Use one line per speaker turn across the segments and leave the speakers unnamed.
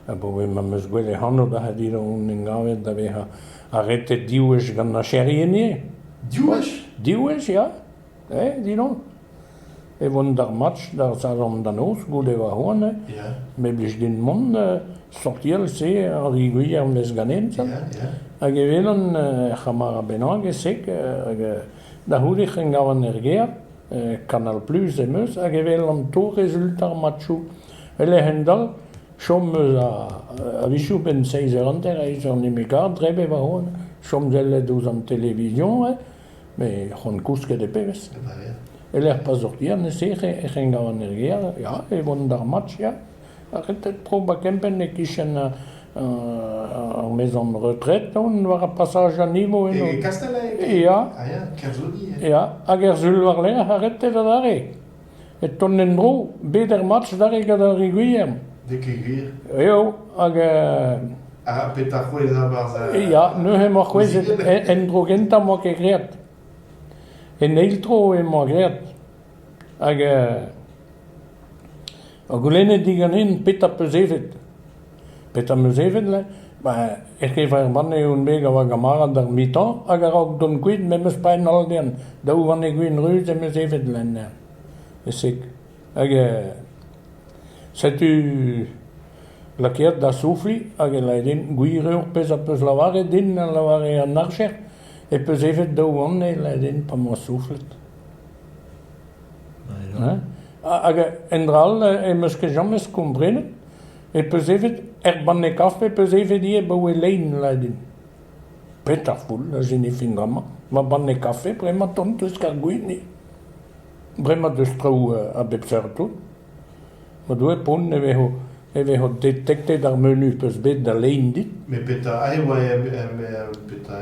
Abaoe ma'm eus gwelet anv Baradiz on gavet da vezañ arretet div wech gant nacherien ivez. Div wech? Div wech ya, eh dilon. E voen d'ar match d'ar saloñs da noz goude va c'hoant eh me 'blij
din mont
sortiel-se ar liguier 'm eus ganin ya, ya. Hag
e welan
ur c'hamarad bennak e-sek hag Da c'houde c'hen gavan er gêr, Kanal Pluz em eus, hag e welan to rezultañ ar matchoù. E-lec'h un dall, chom eus a-wechoù benn seizh eur hanter ha ez an e me gar dre be warc'hoazh, chom sellet ouzh an televizion eo, met c'hoant kousket e pebezh. E-lec'h pa sortian e-se e c'hen gavan er gêr, ya, e vo d'ar match ya. Redek tro ba kempenn e-kichen ar maezan retred on war ar pasaj a nivo eno. E Kastellec?
Ya, Ah ya, Kerzodi. ya, hag er sul
war-lerc'h ar reter adarre. E ton en-dro, bet er match adarre gant ar Re Gwilherm. Dek
e gwir. Eo, hag
euh,
Ha petra c'hwezhañ barzh ar... ya, neuze emañ
c'hwezhet en- en-dro gentañ emañ ket great. En eil tro emañ great. Hag euh, Ha goulennet diganin petra 'peus evet. Petra 'm eus evet lec'h ? Ben, er gevreman eo bet a oa gamarad ar metañ hag a-raok dont kuit me 'm eus paeet holl dezhan. Daou vanne gwin ruz em eus evet len dezhañ. E-se. Hag euh, setu lakaet da soufiñ hag e lâret din gwir eo ar pezh a 'peus lavaret din, a lavare an archer, e 'peus evet daou vanne, e lâret din pa 'm boa souflet. Hein ? Hag endra all em eus ket james komprenet e peus evet er banne kafe peus evet ivez abaoe lein lâret din. Petra foul a sinifin bremañ va banne kafe bremañ tont eus Kargwini. Bremañ deus traoù a bep seurt tout. Ma doe pont e vezo e vezo detektet ar menu peus bet da lein dit. Met petra ae oa
em em petra...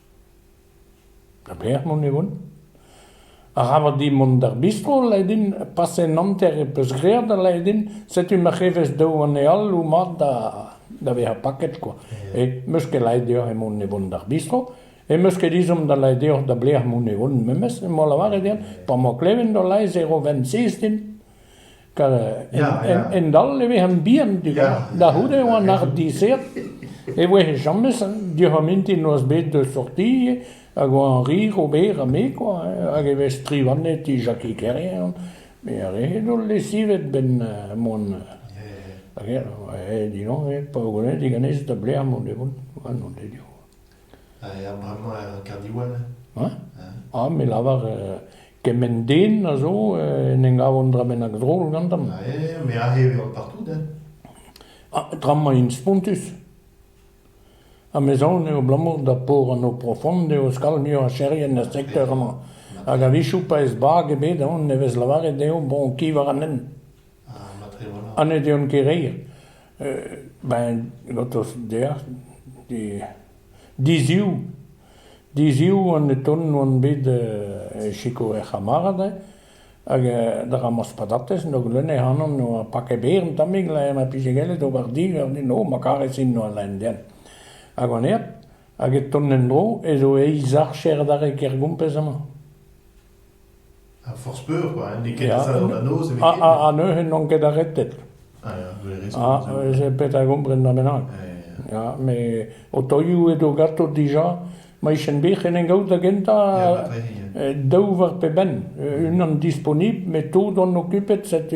A-belec'h mont e van? Arabat dit mont d'ar bistro lâret din paset an hanter e peus graet ha lâret din setu ma c'hevez daou anezhall o mat da da vezañ paket kwa. E meus ket laeret deoc'h emaon e vont d'ar bistro e meus ket ezhomm da lâret deoc'h da belec'h mont e van memes emañ o lavaret din pa 'mañ klevet o laez e ro 'vent sez din. Hendall e vez bihan da c'houde oa an ardizhiad e voe james diouzh ar mintin noazh bet da sortiñ hag oa rir ober ha me kwa hag e vez strivanet Jackie Kerrian met ar re zo lesivet 'benn mont hag eñ aet dilañs pa welet diganez da blec'h mont e vont ha n'on ket eo. Ha bremañ er
Carnewell?
Ah me lavar Kement den a zo en em gav un dra bennak drol gantañ. Eh, me aze e
vevan partout,
eh. Ah, tra-mañ int spontus. Ha me soñj eo abalamour da por an eau profonde eo skal muiacherien er sekteur amañ. Hag a-wechoù pa ez bag ebet, on ne vez lavaret dezho bon, ki war an hent. Ah, matre voilà. Ha ne deuont ket reir. Euh, ben, gotos deac'h, di Diziv, diziv an eton oan bet e sikour er c'hamarad hag d'ar rañmañs patatez n'o gleun ac'hanon n'oa paket berr un tammig laer ma pije gallet ober di ganin o ma karez-int oa Laendiern hag on aet hag e ton en-dro ez eo eizh archer adarre Kergompez amañ.
Ha forzh peur kwa, n'eo ket azav da noz nemetken. Ha neuze n'on
ket arretet. Ah
ya, vous avez raison. Ah, j'ai peut-être à comprendre
là maintenant. Ya, mais otoioù edo gato dija, ma ichen bet en en gaout da gentañ daou war pe benn. Unan disponible, mais tout on occupet cette...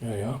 Ya
ya.